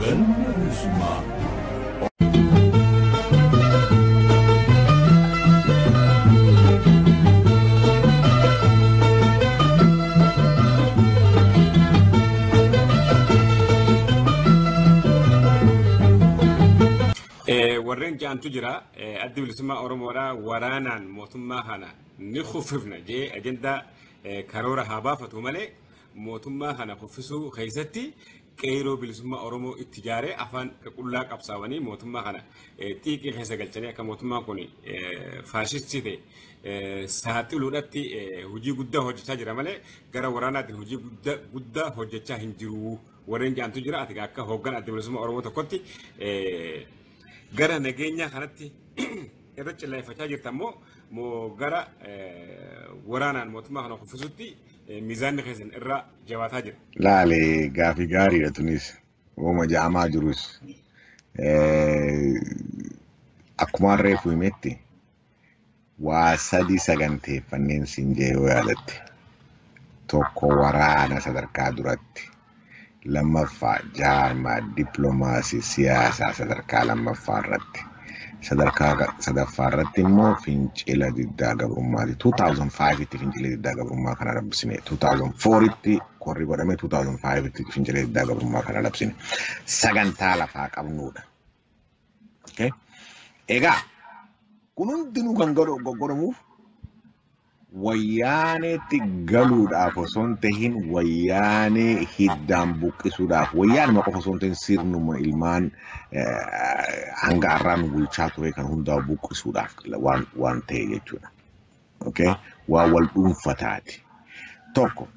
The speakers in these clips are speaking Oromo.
Galma Bilisummaa. Warreen jaantu jira addi bilisummaa Oromoodhaa waraanaan mootummaa kana ni kuffifna jee ajandaa karoora haa baafatu malee mootummaa kana kuffisuu keessatti qeeroo bilisummaa Oromoo itti jaaree afaan qullaa qabsaawanii mootummaa kana xiiqii keessa galchanii akka mootummaan kun faashistii ta'e saaxiluudhaatti hojii guddaa hojjechaa jira malee gara waraanaatiin hojii guddaa hojjechaa hin jiru. Warreen jaantu jira ati akka hooggan adda bilisummaa Oromoo tokkotti gara nageenyaa kanatti irra cilleeffachaa jirta immoo gara waraanaan mootummaa kana kuffisutti eh, miizaanni keessan irra jabaataa jira. Laale gaafii gaariidha tunis. Wooma ja'amaa jirus. Eh, Akkuma reefu himetti waa sadii saganteeffanneen siin jee yoo yaadatte. Tokko waraana sadarkaa duratti. Lammaffaa, jaarmaa dippilomaasii siyaasaa sadarkaa lammaffaa irratti. Sadarkaa ga- sadaffaa irratti immoo fincila diddaa gabrummaati. 2005tti fincila diddaa gabrummaa kana labsine. 2004tti korri godhame 2005tti fincila diddaa gabrummaa kana labsine. Sagantaa lafaa qabnuudha. Okay? Egaa kun hundinuu kan godhu- godhamuuf Wayyaaneetti galuudhaaf osoo hin tahin wayyaanee hiddaan buqqisuudhaaf wayyaanuma qofa osoo hin tahin sirnuma ilmaan hanga har'aa nu bulchaa ture kan hundaa buqqisuudhaaf waan waan ta'e jechuudha. Okay? Waa wal dhuunfataati. Tokko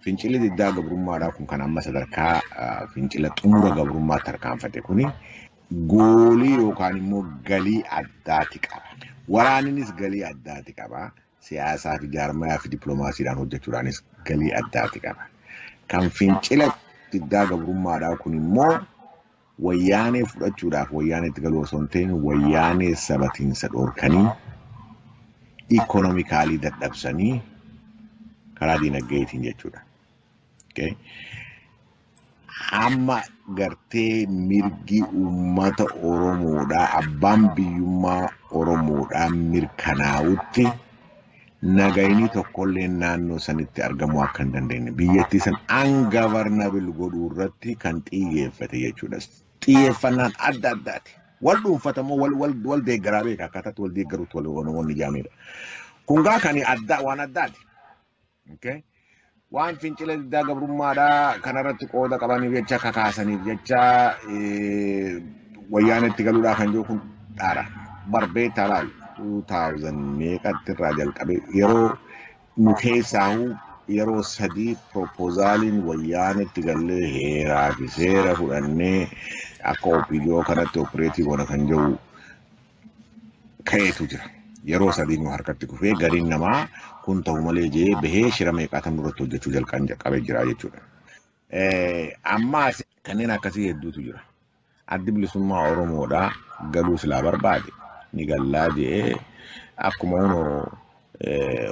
fincilli diddaa gabrummaadhaa kun kan amma sadarkaa fincila xumura gabrummaa tarkaanfate kuni goolii yookaan immoo galii addaati qaba. Waraaninis galii addaati qaba. Siyaasaa fi jaarmayaa fi dippiloomaasiidhaan hojjechuudhaanis galii addaati qaba. Kan fincila diddaa gabrummaadhaa kun immoo wayyaanee fudhachuudhaaf wayyaaneetti galuu osoo hin ta'in wayyaanee sabatiinsa dhorkanii ikoonomikaalii dadhabsanii karaa diinagdeetiin jechuudha. Okay? hamma gartee mirgi uummata Oromoodhaa abbaan biyyummaa Oromoodhaa mirkanaa'utti nagayni tokkollee naannoo sanitti argamuu akka hin dandeenye biyyattii san ungovernable godhuu irratti kan xiyyeeffate jechuudha. Xiyyeeffannaan adda addaati. Wal dhuunfatamoo wal wal wal deeggaraa beeka akkaataatti wal deeggaruutti wal wal wal ijaamedha. Kun gaa kan addaa waan addaati. Okay. Waan fincila diddaa gabrummaadhaa kanarratti qooda qabaniif jecha kakaasaniif jecha eh, wayyaanetti galuudhaa kan jiru kun dhaara. Barbee talaal 2000 meeqatti irraa jalqabee yeroo nu keessaahu yeroo sadii proposaliin wayyaanetti gallee heeraa fi seera fudhannee akka OPDO kanatti opereetii goona kan jiru ka'eetu jira. Yeroo sadii nu harkatti kufee gariin namaa kun ta'u malee jee bahee shira meeqaatan nurratti hojjechuu jalqaan qabe jira jechuudha. Ammaas kanneen akkasii hedduutu jira. Addi bilisummaa Oromoodhaa galuu silaa barbaade ni gallaa jee akkuma hunoo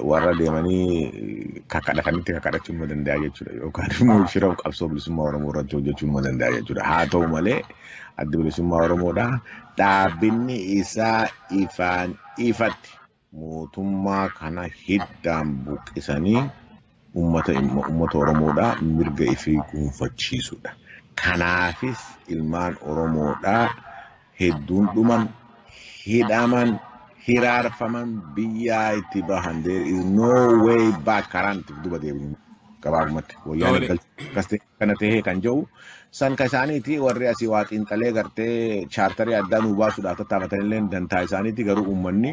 warra deemanii kakadhatanitti kakadhachuu numa danda'a jechuudha. Yookaan immoo shira qabsoo bilisummaa Oromoo irratti hojjechuu numa danda'a jechuudha. Haa ta'u malee addi bilisummaa Oromoodha. Dhaabinni isaa ifaan ifatti mootummaa kana hiddaan buqqisanii ummata immoo ummata Oromoodhaa mirga ifii guunfachiisudha. Kanaafis ilmaan Oromoodhaa hedduun dhuman, hidhaman, hiraarfaman, biyyaa itti bahan. There is no way back karaa nuti duba deebinu gabaabumatti. Wayyaanee Doole. galchuu akkas ta'e. kana tahee kan ja'u san ka isaaniiti warri asii waa xiinxalee gartee chaartarii addaa nuu baasuudhaaf tattaafatanillee dantaa isaaniiti garuu uummanni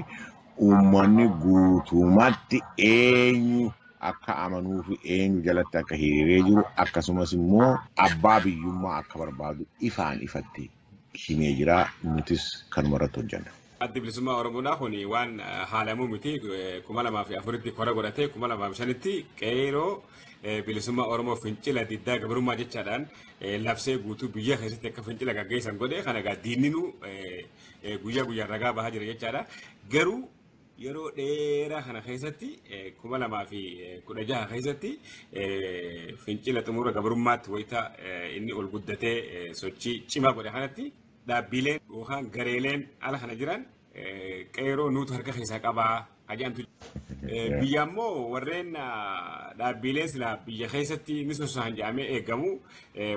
uummanni guutumatti eenyu akka amanuu fi eenyu jalatti akka hiriiree jiru akkasumas immoo abbaa biyyummaa akka barbaadu ifaan ifatti himee jira. Nutis kanuma irratti hojjenna. Addi Bilisummaa Oromoodhaa kun waan haalamuu miti. kuma lamaa fi afuritti kora godhatee kuma lamaa fi shanitti qeeroo bilisummaa Oromoo fincila diddaa gabrummaa jechaadhaan labsee guutuu biyya keessatti akka fincila gaggeessan godhe kana egaa diinninuu guyyaa guyyaan ragaa bahaa jira jechaadha. Garuu Yeroo dheeraa kana keessatti 2016 keessatti fincila xumura gabrummaatti wayita inni ol guddatee sochii cimaa godhe kanatti dhaabbiileen yookaan gareeleen ala kana jiran qeeroo nuutu harka keessaa qabaa ajaa'amtu. Biyya ammoo warreen dhaabbiilee silaa biyya keessatti ni sosohan jedhamee eegamu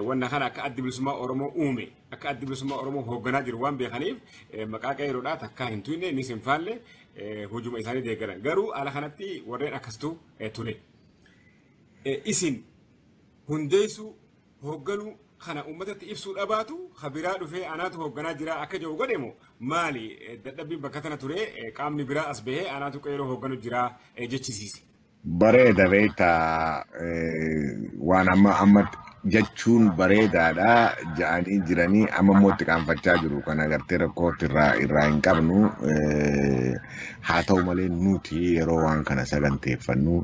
wanna kana akka addi bilisummaa Oromoo uume akka addi bilisummaa Oromoo hoogganaa jiru waan beekaniif maqaa qeerroodhaa takkaa hin tuyne innis hin faalle hojuma isaanii deeggaran. Garuu ala kanatti warreen akkasitu ture. Isin hundeessuu hoogganuu kana uummatatti ibsuu dhabaatu habiraa dhufee anaatu hoogganaa jira akka jiru godhemu maali dadhabbiin bakka tana ture qaamni biraa as bahee anaatu qeerroo hoogganu jira jechisiise. Bareeda beekta waan amma amma jechuun bareedaadha ja'anii jiranii amma immoo itti qaanfachaa jiru kan agartee rakkootti irraa irraa hin qabnu haa ta'u malee nuti yeroo waan kana saganteeffannu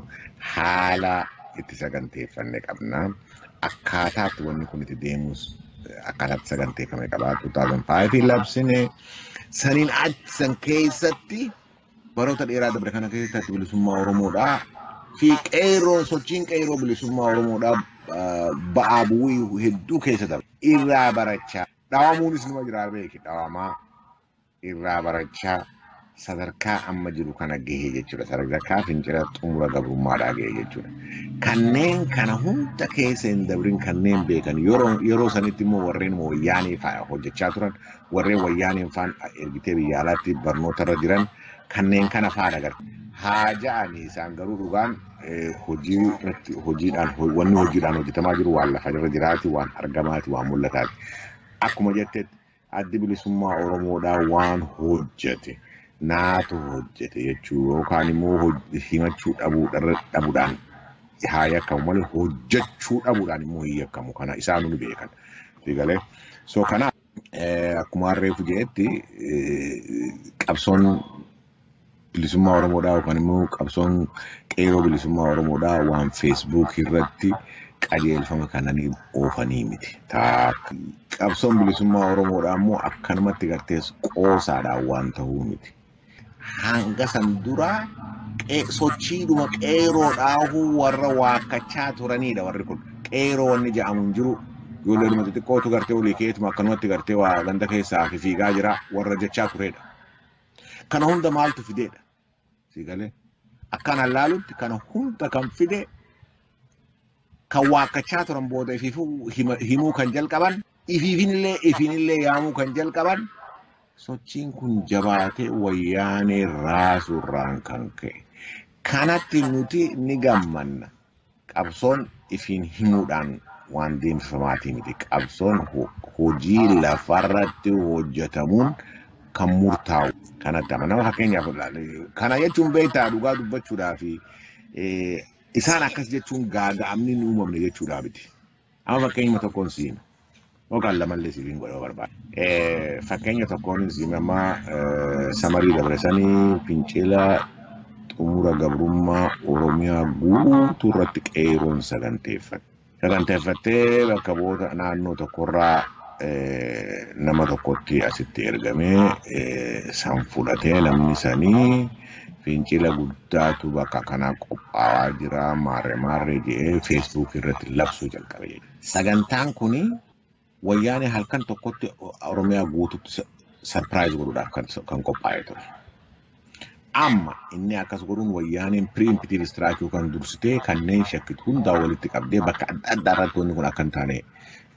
haala itti saganteeffanne qabna akkaataatti wanni kun itti deemus akkaataatti saganteeffame qaba 2005 labsine saniin achi san keessatti baroota dheeraa dabre kana keessatti addi bilisummaa Oromoodhaa fi qeerroon sochiin qeerroo bilisummaa Oromoodhaa ah, ba'aa bu'uu hedduu keessa dabre. Irraa barachaa dhawamuunis numa jiraa beeki dhawamaa irraa barachaa sadarkaa amma jiru kana gahee jechuudha. Sadarkaa fincila xumura gabrummaadhaa gahee jechuudha. Kanneen kana hunda keessa hin dabrin kanneen beekan yeroo yeroo sanitti immoo warreen wayyaanee fa'a hojjechaa turan warreen wayyaaneen faan ergitee biyya alaatti barnoota irra jiran kanneen kana faadha garte. Haa ja'anii isaan garuu dhugaan hojii irratti hojiidhaan wanni hojiidhaan hojjetamaa jiru waan lafa irra jiraati waan argamaati waan mul'ataati. Akkuma jettetti addi bilisummaa Oromoodhaa waan hojjete naatu hojjete jechuu yookaan immoo himachuu dhabuudhaan haa yakkamu malee hojjechuu dhabuudhaan immoo hin yakkamu kana isaanuu ni beekan. Sigalee. So kanaaf. Akkuma harreefu jedhetti qabsoon bilisummaa Oromoodhaa yookaan immoo qabsoon qeeroo bilisummaa Oromoodhaa waan feesbuukii irratti qajeelfama kananii oofanii miti. Qabsoon bilisummaa Oromoodhaa immoo akkanumatti gartees qoosaadhaan waan ta'uu miti. Hanga san dura qee- sochiidhuma qeeroo dhaahuu warra waakkachaa turanidha warri kun. Qeeroo wanni jedhamu hin jiru. Ijoollee dhuma xixiqqootu gartee olii keetuma akkanumatti gartee waa ganda keessaa fi fiigaa jira warra jechaa turedha. Kana hunda maaltu fideedha? Siigalee. Akkaan hallaalutti kana hunda kan fide kan waakkachaa turan booda ifiifuu hima- himuu kan jalqaban ifiifinillee ifiinillee yaamuu kan jalqaban sochiin kun jabaatee wayyaanee raasuurraan kan ka'e. Kanatti nuti ni gammanna. Qabsoon ifiin himuudhaan waan deemsifamaatii miti. Qabsoon ho- hojii lafarratti hojjetamuun kan murtaa'u kanatti amanama. Fakkeenyaaf ilaali. kana jechuun beektaa dhugaa dubbachuudhaa fi Isaan akkas jechuun gaaga'amni hin uumamne jechuudhaa miti. Amma fakkeenyuma tokkoon si hima. Yookaan lamallee siif hin godhama barbaada. Eh, Fakkeenya tokkoon si hima amma eh, samarii dabarsanii fincila xumura gabrummaa Oromiyaa guutuu irratti qeeroon saganteeffate. saganteeffattee bakka bu'oota naannoo tokkorraa eh, nama tokkotti asitti ergamee eh, san fudhatee namni sanii fincila guddaatu bakka kanaa qophaa'aa jira maarree maarree jedhee feesbuukii irratti labsuu jalqabe jechuudha. Sagantaan kuni Wayyaanee halkan tokkotti Oromiyaa guututti sa- sarpiraayiz godhuudhaaf kan, kan qophaa'ee ture. Amma inni akkas godhuun wayyaaneen piriimpitiin istiraakuu kan dursitee kanneen shakkitu hundaa walitti qabdee bakka adda addaa irratti wanni kun akka hin taane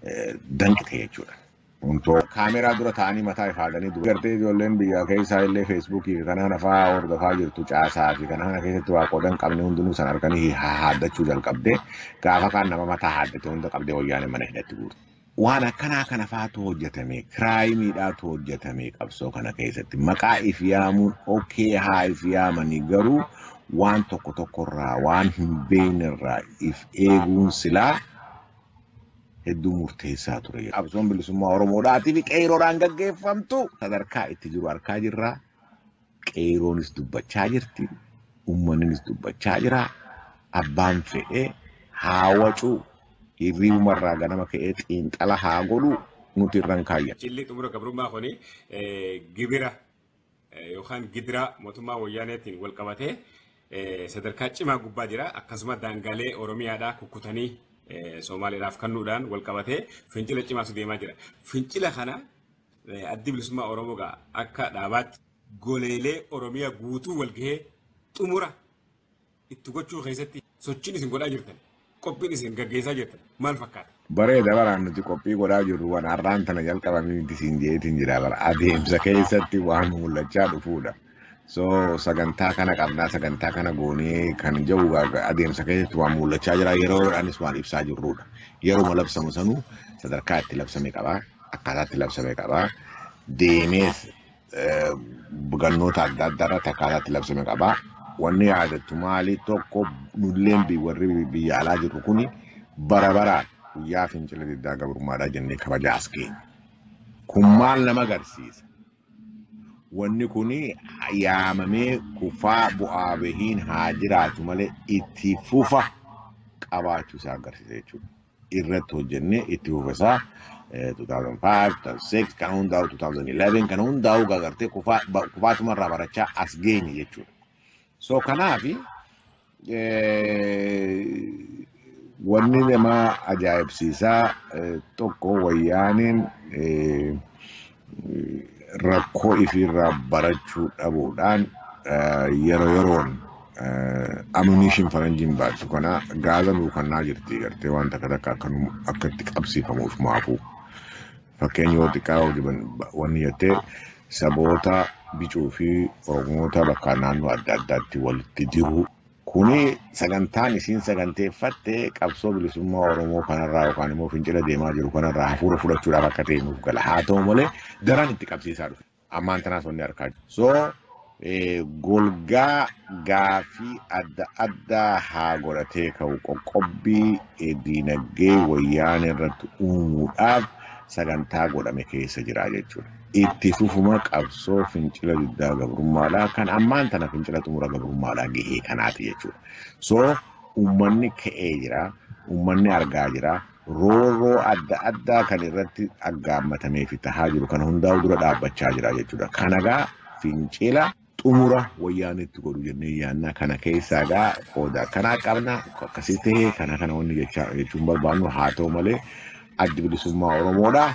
eh, danqite jechuudha. Untoo kaameraa dura taa'anii mataa ifaadanii dura. Gartee ijoolleen biyya keessaa illee feesbuukii fi kanaan afaa hordofaa jirtu caasaa fi kanaan keessatti waa qoodan qabne hundinuu san arganii haaddachuu jalqabde. Gaafa kaan nama mataa haaddate hunda qabdee wayyaaneen mana hidhatti guurte. Waan akkanaa kana faatu hojjetame, kiraayimiidhaatu hojjetame qabsoo kana keessatti. Maqaa if yaamuun okee haa if yaamanii garuu waan tokko tokkorraa waan hin beeknerraa if eeguun silaa hedduu murteessaa ture. Qabsoon bilisummaa Oromoodhaatii fi qeeyroodhaan gaggeeffamtu sadarkaa itti jiru arkaa jirra. Qeeyroonis dubbachaa jirti, ummanninis dubbachaa jira, abbaan fedhe haa wacu, hirriibuma irraa ganama ka'ee xiinxala haa godhu, nuti irra hin kaayyannu. Jilli xumura gabrummaa kuni gibira yookaan gidiraa mootummaa Wayyaaneetiin wal qabatee sadarkaa cimaa gubbaa jira. Akkasuma daangaalee Oromiyaadhaa kukkutanii Soomaaleedhaaf kannuudhaan wal qabatee fincila cimaatu deemaa jira. Fincila kana Addi bilisummaa Oromoo gaa akka dhaabaatti goleelee Oromiyaa guutuu walgahee xumura itti gochuu keessatti sochiin isin godhaa jirtan qophiin isin gaggeessaa jirtan maal fakkaata? Bareeda baraan nuti qophii godhaa jirru waan har'aan tana jalqabamee miti siin jeetiin jira bara adeemsa keessatti waan mul'achaa dhufuudha. So sagantaa kana qabnaa sagantaa kana goonee kan jedhu gaa- adeemsa keessatti waan mul'achaa jira yeroo yeroodhaanis waan ibsaa jirrudha. Yeruma labsamu sanuu sadarkaa itti labsame qaba akkaataa itti labsame qaba deemees eh, gannoota adda addaa irratti akkaataa itti labsame qaba. Wanni yaadattu maali tokko nulleen bi- warri bi- biyya alaa jirru kuni bara baraan guyyaa fincila diddaa gabrummaadhaa jennee kabajaa as keenya. Kun maal nama agarsiisa? Wanni kun yaamamee kufaa bu'aa bahiin haa jiraatu malee itti fufa qabaachuu isaa agarsiisa jechuudha. Irratti hojjennee itti fufa isaa 2005, 2006 kan hundaa'u 2011 kan hundaa'u gagartee kufaatuma irraa barachaa as geenye jechuudha. So kanaafi Wanni nama ajaa'ibsiisaa tokko wayyaaneen rakkoo ifiirraa barachuu dhabuudhaan yeroo yeroon ammunition faranjiin baattu kana gaaza nuu kannaa jirti gartee waan takka takka akka itti qabsiifamuuf maafuu. Fakkeenya yoo xiqqaa hojiban wanni jettee saboota bicuu fi oromoota bakka naannoo adda addaatti walitti diruu kuni sagantaan isiin saganteeffatte qabsoo bilisummaa oromoo kanarraa yookaan immoo fincila deemaa jiru kanarraa hafuura fudhachuudhaaf akka ta'e nuuf gala haa ta'u malee daran itti qabsiisaa dhufe. ammaan tanaas wanni arkaa jiru. So eh, golgaa gaafii adda addaa haa godhatee ka'u qoqqobbii eh, diinagdee wayyaanee irratti uumuudhaaf sagantaa godhame keessa jira jechuudha. Itti fufuma qabsoo fincila diddaa gabrummaadhaa kan ammaan tana fincila xumura gabrummaadhaa gahee kanaati jechuudha. So uummanni ka'ee jira, uummanni argaa jira, roorroo adda addaa kan irratti aggaammatamee fi tahaa jiru kana hundaa'u dura dhaabbachaa jira jechuudha. Kana gaa fincila xumura wayyaanetti godhu jennee yaannaa kana keessaa gaa qooda akkanaa qabna akkasii ta'ee kana kana wanni jechaa jechuun barbaannu haa ta'u malee addi bilisummaa Oromoodha.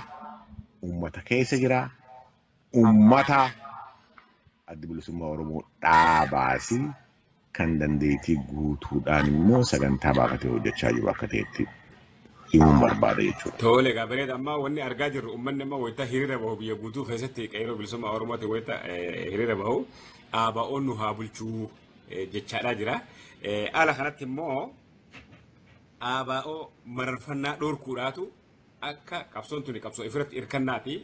Uummata keessa jira. Uummata addi bilisummaa Oromoo dhaabaasi kan dandeettii guutuudhaan immoo sagantaa baafatee hojjechaa jiru akka ta'etti himuun barbaada jechuudha. Tole egaa bareeda amma wanni argaa jirru uummanni amma wayita hiriira bahu biyya guutuu keessatti qeerroo bilisummaa Oromootiin wayita eh, hiriira bahu ABO'n nu haa bulchuu eh, jechaadhaa jira. Eh, Haala kanatti immoo ABO mararfannaa dhorkuudhaatu akka qabsoon tuni qabsoo ifirratti hirkannaati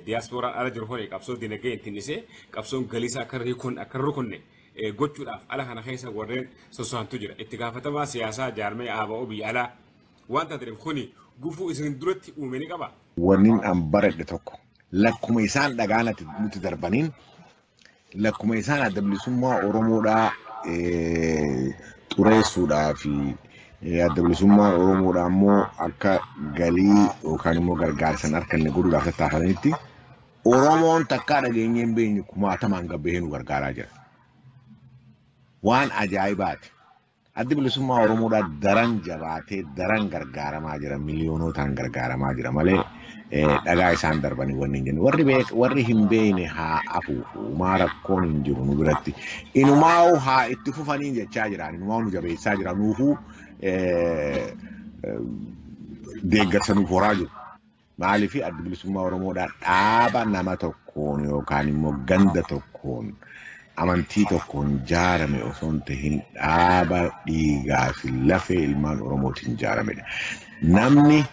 diyaaspooraan ala jiru hore qabsoo dinagdee ittiin dhisee qabsoon galiisa akka riikon akka rukunne gochuudhaaf ala kana keessa warreen sosohantu jira. Itti gaafatamaa siyaasaa jaarmee ABO biyya alaa waan taateef kuni gufuu isin duratti uume ni qaba. Wannin an baradhe tokko lakkuma isaan dhagaanati nutti darbaniin lakkuma isaan adda bilisummaa Oromoodhaa eh, xureessuudhaa fi eh, adda bilisummaa Oromoodhaa immoo akka galii yookaan immoo gargaarsa hin arganne godhuudhaaf tattaafanitti Oromoon takkaa dhageenyee hin beekne kumaatamaan gabbahee nu gargaaraa jira. Waan ajaa'ibaati. Addi bilisummaa Oromoodhaa daran jabaatee daran gargaaramaa jira miliyoonootaan gargaaramaa jira malee eh, dhagaa isaan darbanii wanni hin jennu warri beek warri hin beekne haa afuufu umaa rakkoon hin jiru nu biratti inumaa'u haa itti fufanii jechaa jiraan inumaa'u nu jabeessaa jira nuufuu eh, eh, deeggarsa nuuf horaa jiru. Maaliif addi bilisummaa Oromoodhaa dhaaba nama tokkoon yookaan immoo ganda tokkoon amantii tokkoon jaarame osoo hin tahin dhaaba dhiigaa fi lafee ilmaan Oromootiin jaaramedha. Namni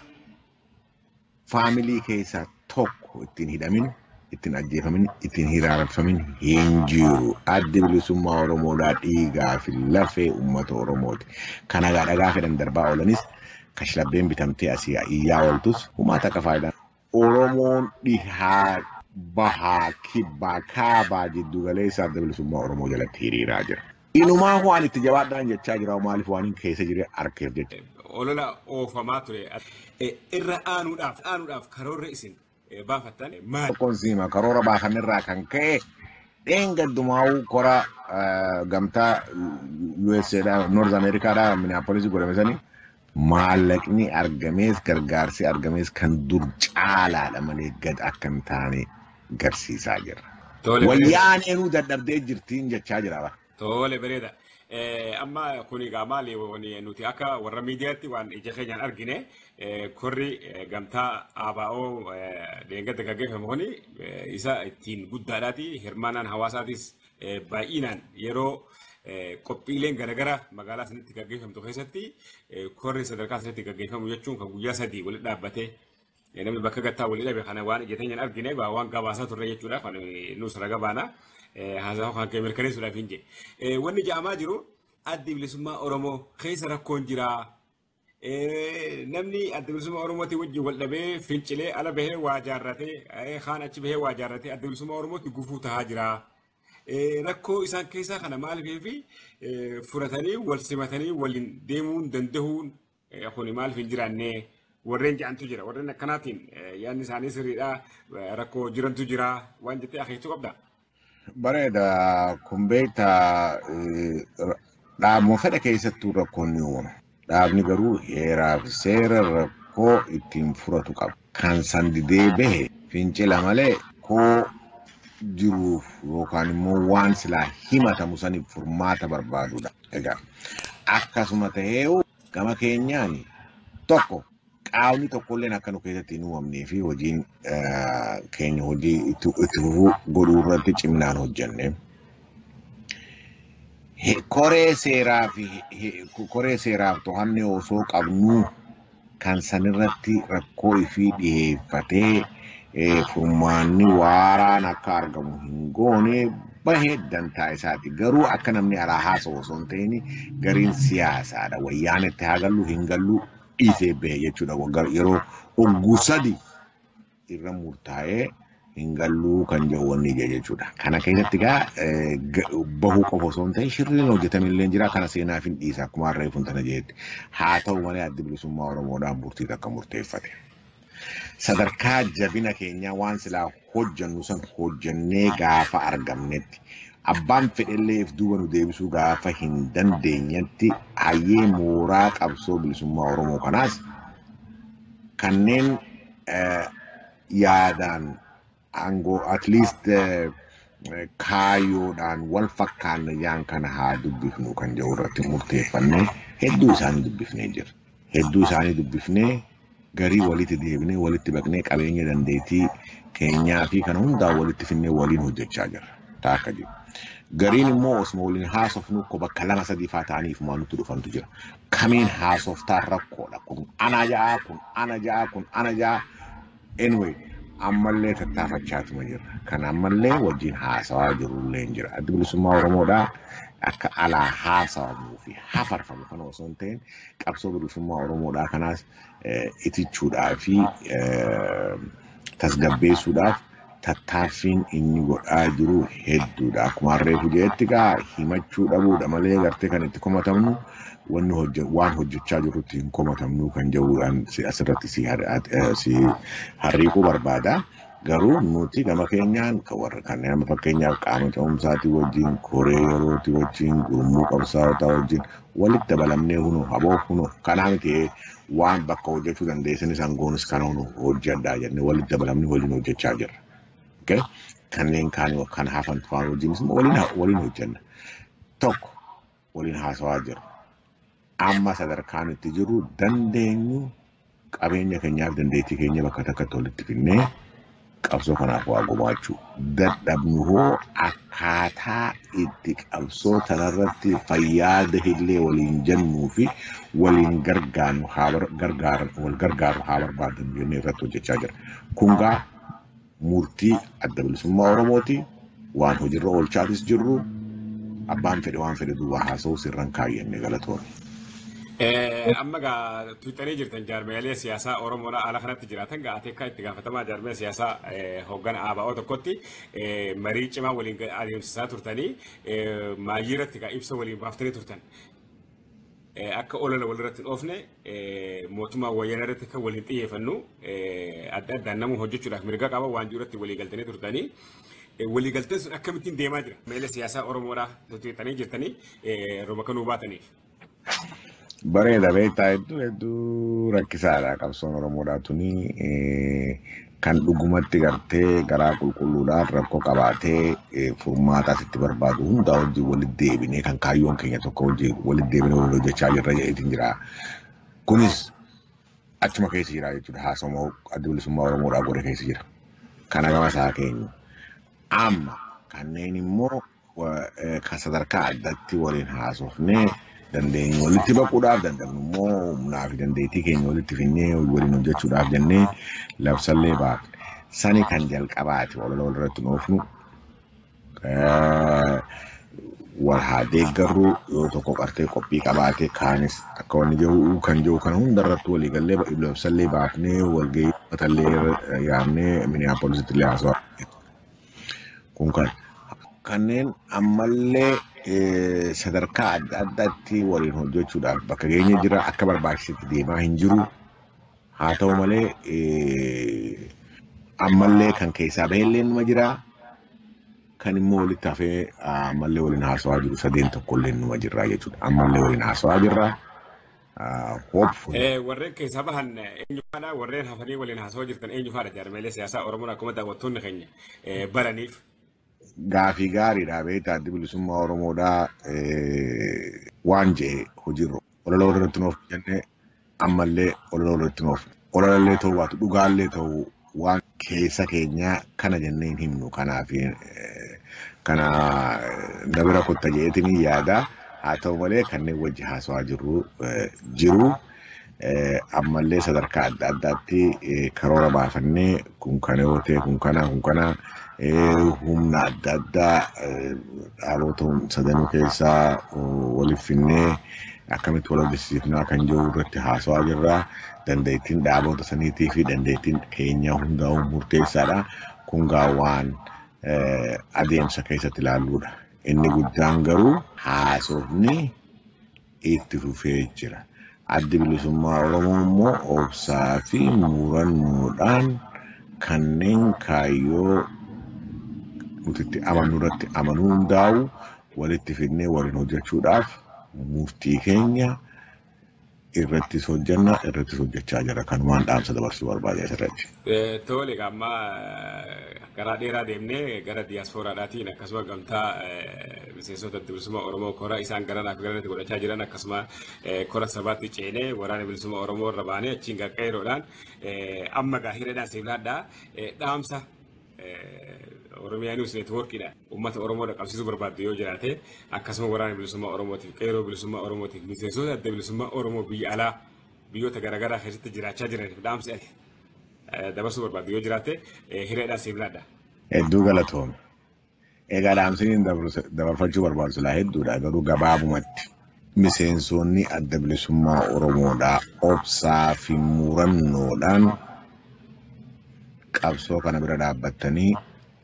faamilii keessaa tokko ittiin hidhamin ittiin ajjeefamin ittiin hiraarfamin hin jiru. Addi bilisummaa Oromoodhaa dhiigaa fi lafee uummata Oromooti. Kan hagaa dhagaa fedhan darbaa oolanis kashlabbeen bitamtee asii iyyaa ooltus humaa takka faayidaan Oromoon dhihaa bahaa kibbaa kaabaa jiddu galeessa adda bilisummaa Oromoo jalatti hiriiraa jira. Inumaa waan itti jabaadhaan jechaa jira maaliif waan hin keessa jire arkeef jecha. Olola oofamaa ture irra aanuudhaaf aanuudhaaf karoorri isin baafattan maali? Tokkoon siima karoora baafannerraa kan ka'e dheengaddumaa'uu kora eh, gamtaa USA dha North America dha Minneapolis godhame sani maallaqni argamees gargaarsi argamees kan dur caalaadha malee gad akka hin taane garsiisaa jira. Tole. Wayyaaneenuu dadhabdee jirtiin jechaa jira bara. Tole bareeda. Eh, Amma kun egaa maali wani nuti akka warra miidiyaatti waan ija keenyaan argine eh, korri eh, gamtaa ABO deeggarsa gaggeeffame kuni eh, isa ittiin guddaadhaati hirmaannaan hawaasaatis eh, baay'inaan yeroo eh, qophiileen garaagaraa magaalaa sanitti gaggeeffamtu keessatti eh, korri sadarkaa sanitti gaggeeffamu jechuun kan guyyaa sadii walitti dhaabbatee Namni bakka gattaa walii dhabe kana waan ija teenyaan argine egaa waan gabaasaa turre jechuudha kan nuus raga baana haasaa kan kee mirkaneessuudhaaf hin jee. Wanni ja'amaa jiru addi bilisummaa Oromoo keessa rakkoon jira. Namni adda bilisummaa Oromootiin wajjin wal dhabee fincilee ala bahee waa jaarratee kaan achi bahee waa jaarratee adda bilisummaa Oromootti gufuu tahaa jira. Rakkoo isaan keessaa kana maaliif fi furatanii wal simatanii waliin deemuun danda'uun Kuni maaliif hin jiraanne warreen ja'antu jira. Warreen akkanaatiin yaadni isaanii sirriidha. Rakkoo jirantu jira. Waan jettee akeektu qabda. Bareeda kun beekta dhaabuma fedha keessattuu rakkoon ni uumama. Dhaabni garuu heeraa fi seera rakkoo ittiin furatu qaba. Kan san didee bahe fincila malee koo jiruuf yookaan immoo waan silaa himatamu saniif furmaata barbaadudha. Egaa akkasuma ta'eeyu gama keenyaan tokko qaamni tokkolleen akka nu keessatti hin uumamnee fi hojiin eh, keenya hojii itti itti fufuu godhuu irratti ciminaan hojjenne. He- Koree seeraa fi he- he- koree seeraaf to'annee osoo qabnuu kan sanirratti rakkoo ifii dhiheeffatee furmaanni waaraan akka argamu hin goone bahee dantaa isaati. Garuu akka namni alaa haasa'u osoo hin ta'in gariin siyaasaadha. Wayyaanetti haa gallu hin gallu dhiisee bahe jechuudha. Yeroo ogguu sadi irra murtaa'ee hin galluu kan jedhu wanni ija jechuudha. Kana keessatti egaa eh, ga- bahuu qofa osoo hin ta'in shirriin hojjetame illee jira kana seenaaf hin dhiisa akkuma harree kun tana jeetti. Haa ta'u malee addi bilisummaa Oromoodhaan murtii takka murteeffate. Sadarkaa jabina keenyaa waan silaa hojjannu san hojjannee gaafa argamnetti abbaan fedhellee if duuba nu deebisuu gaafa hin dandeenyetti hayyee mooraa qabsoo bilisummaa Oromoo kanaas kanneen eh, yaadaan aangoo at least eh, eh, kaayoodhaan wal fakkaanne yaan kana haa dubbifnu kan jedhu irratti murteeffannee hedduu isaanii dubbifnee jira. Hedduu isaanii dubbifnee garii walitti deebinee walitti baqnee qabeenya dandeettii keenyaa fi kana hundaa walitti finnee waliin hojjechaa jirra. Taa akka jiru. Gariin immoo osuma waliin haasofnu ko bakka lama sadii faa ta'aniif maa nutti dhufantu jira. kamiin haasoftaa rakkoodha kun ana ja'a kun ana ja'a kun ana ja'a anyway ammallee tattaafachaatuma jirra kan ammallee wajjin haasawaa jirullee hin jira addi bilisummaa oromoodha akka alaa haasawamuu fi hafarfamu kana osoo hin ta'in qabsoo bilisummaa oromoodhaa kanaas eh, itichuudhaa fi eh, tasgabbeessuudhaaf tattaaffiin inni godhaa jiru hedduudha. Akkuma harreefu jedhetti gaa himachuu dhabuudha malee gartee kan itti komatamnu wanni hojje- waan hojjechaa jirrutti hin komatamnu kan jedhuudhaan si- asirratti si har- at- eh, si harriiquu barbaada. Garuu nuti gama keenyaan kan warra kanneen amma fakkeenyaaf qaama ce'umsaatii wajjin, koree yerootii wajjin, gurmuu qabsaawotaa wajjin Walit dabalamnee huno aboo huno kanaa miti waan bakka hojjachuu dandeessanis angoonis kana huno hojjadhaa jennee walit dabalamnee waliin hojjachaa jirra. Okay? Kanneen kaanii kan hafan faan wajjinis immoo waliin ha- waliin hojjanna. Tokko waliin haasawaa jirra. Amma sadarkaan itti jirru dandeenyu Qabeenya keenyaaf dandeettii keenya bakka takkatti walitti finnee qabsoo kanaaf waa gumaachuu dadhabnu hoo akkaataa itti qabsoo tanarratti fayyaada illee waliin jennuu fi waliin gargaarru haa bar- gargaar- wal gargaarru haa barbaadnu jennee irratti hojjechaa jira. Kun gaa murtii adda bilisummaa Oromooti. Waan hojirra oolchaatis jirru abbaan fedhe waan fedhe duwwaa haasa'uu sirran kaayyanne galatoon. Amma gaa Tiwiitarii jirtan jaarmiyaalee siyaasaa Oromoo ala kanatti jiraatan gaa ateekkaa itti gaafatamaa jaarmiyaa siyaasaa hoggana ABO tokkotti marii cimaa waliin adeemsisaa turtanii maayii irratti gaa ibsa waliin baaftanii turtan. akka olola walirratti hin oofne mootummaa wayyaana irratti kan waliin xiyyeeffannu adda addaan nama hojjechuudhaaf mirga qaba waan jiru irratti walii galtanii turtanii. Walii galteen sun akkamittiin deemaa jira? Meela siyaasaa Oromoodhaa tutuuxanii jirtanii roba kan nuu baataniif. Bareeda beektaa hedduu hedduu rakkisaadha qabsoon Oromoodhaa tuni kan dhugumatti gartee garaa qulqulluudhaan rakkoo qabaatee eh, furmaataas itti barbaadu hundaa wajjin walitti deebinee kan kaayyoon keenya tokko wajjin walitti deebinee wal hojjechaa jirra jedheetiin jira. Kunis achuma keessa jira jechuudha haasawaa adda bilisummaa Oromoodhaa godhe keessa jira. Kana gama isaa keenya. Amma kanneen immoo kan sadarkaa addatti waliin haasofnee dandeenyu walitti baquudhaaf danda'amnu immoo humnaa fi dandeettii keenya walitti finnee waliin hojjechuudhaaf jennee labsallee baafne. Sani kan jalqabaati walala walirratti nuufnu wal haa deeggarru yoo tokko qartee qophii qabaate kaanis akka wanni jiru kan jiru kana hundarratti walii gallee labsallee baafnee walgahii uummatallee yaamnee miniyaapoolisitti illee haasawaa Kun kan kanneen ammallee eh, sadarkaa adda addaatti waliin hojjechuudhaaf bakka geenye jira akka barbaachisetti deemaa hin jiru. Haa ta'u malee eh, ammallee kan keessaa bahellee numa jira. Kan immoo walitti hafee ah, ammallee waliin haasawaa jiru sadeen tokkollee numa jirra jechuudha. Ammallee waliin haasawaa jirra. hopefully. Eh, warreen keessaa bahan eh, eenyufaadha warreen hafanii waliin haasawaa jirtan eenyufaadha jaarmeelee siyaasaa oromoon akkuma daawwattoonni keenya eh, baraniif Gaafii gaariidha beektaa addi bilisummaa Oromoodhaa eh, waan jee hojiirra walaloo irratti nuuf jenne ammallee walaloo irratti nuuf walaloo ta'uu baatu dhugaallee ta'uu waan keessa keenya kana jennee hin himnu kanaaf kana na bira kutta jedheetiin hin yaada haa ta'u malee kanneen wajji haasawaa jirru jiru ammallee sadarkaa adda addaatti karoora baafannee kun kana yoo ta'e kun kana kun kana humna adda addaa dhaabota sadanuu keessaa waliif finnee akkamitti wal hojjechiifnaa kan jiru irratti haasawaa jirra. dandeettiin dhaaboota saniitii fi dandeettiin keenya hundaa'uu murteessaadha. Kun gaa waan adeemsa keessatti ilaalluudha. Inni guddaan garuu haasofni itti fufee jira. Addi bilisummaa Oromoo immoo obsaa fi murannoodhaan kanneen kaayyoo nuti itti amannu irratti amanuu hundaa'u walitti fidnee waliin hojjechuudhaaf murtii keenya irrattis hojjenna irrattis hojjechaa jira kan waan dhaamsa dabarsuu barbaade asirratti. Tole amma karaa dheeraa deemnee gara diyaaspooraadhaatiin akkasuma gamtaa miseensota adda bilisummaa Oromoo kora isaan garanaa fi garanatti godhachaa jiran akkasuma kora sabaatti ceenee waraana bilisummaa Oromoo irra baanee achiin garqeeroodhaan amma gaahireedhaan siif laadhaa dhaamsa Oromiyaa News Network dha. Uummata Oromoo dhaqqabsiisuu barbaaddu yoo jiraate akkasuma waraana bilisummaa Oromootiif qeeroo bilisummaa Oromootiif miseensota adda bilisummaa Oromoo biyya alaa biyyoota garaagaraa keessatti jiraachaa jiraniif dhaamsi ati dabarsuu barbaaddu yoo jiraate hiriyaadhaan siif laadha. Hedduu galatoomi. Egaa dhaamsiniin dabarfachuu barbaadu silaa hedduudha garuu gabaabumatti miseensoonni adda bilisummaa Oromoodhaa obsaa fi muurannoodhaan qabsoo kana bira dhaabbattanii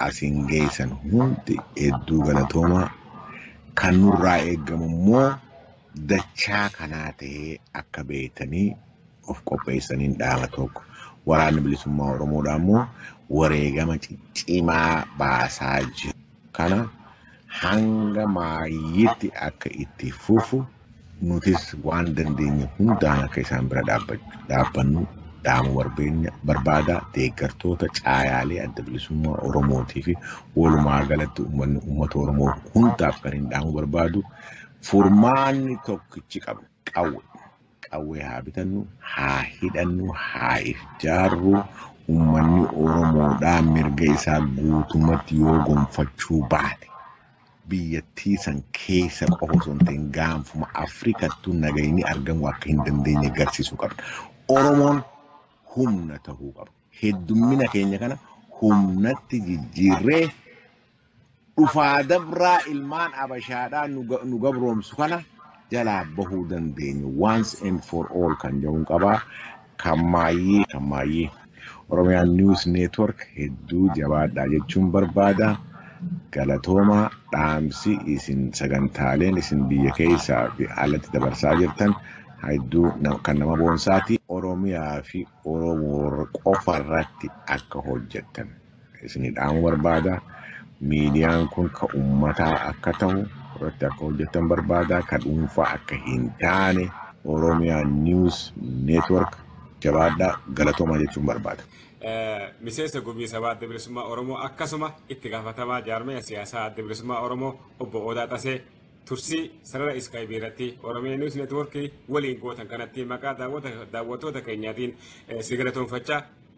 asiin geessan hundi hedduu galatoomaa kan nurraa eegamu immoo dachaa kanaa ta'ee akka beektanii of qopheessaniin dhaama tokko waraanni bilisummaa Oromoodha immoo wareegama ciccimaa baasaa jiru kana hanga maayyiitti akka itti fufu nutis waan dandeenye hundaan akka isaan bira dhaabbannu dhaamuu barbeenya barbaada deeggartoota caayaalee adda bilisummaa Oromootii fi walumaa galatti uummanni uummata Oromoo hundaaf kan hin dhaamuu barbaadu Furmaanni tokkichi qabnu qawwe. Qawwee haa bitannu, haa hidhannu, haa if jaarru. Ummanni Oromoodhaa mirga isaa guutumatti yoo gonfachuu baate biyyattii san keessa qofa osoo hin ta'in gaanfuma Afrikattuu nagayni argamuu akka hin dandeenye garsiisuu qabna. Oromoon humna ta'uu qaba. Heddummina keenya kana humnatti jijjiirree dhufaa dabraa ilmaan abashaadhaa nu ga- nu gabroomsu kana jalaa bahuu dandeenyu once and for all kan jedhuun qabaa kan maayyii kan maayyii Oromiyaan News Network hedduu jabaadhaa jechuun barbaada galatoomaa dhaamsi isin sagantaaleen isin biyya keessaa fi alatti dabarsaa jirtan hedduu na- kan nama boonsaati Oromiyaa fi Oromoo qofa irratti akka hojjettan. isinii dhaamu barbaada. Miidiyaan kun ka ummataa akka ta'u irratti akka hojjettan barbaada. Ka dhuunfaa akka hin taane Oromiyaa News Network jabaadhaa galatoomaa jechuun barbaada. Miseensa Gumii Sabaa Adda Bilisummaa Oromoo akkasuma itti gaafatamaa jaarmaya siyaasaa Adda Bilisummaa Oromoo obbo Odaa Xasee tursii sarara iskaayibii irratti Oromiyaa News Network waliin gootan kanatti maqaa daawwattoota keenyaatiin si galatoomfachaa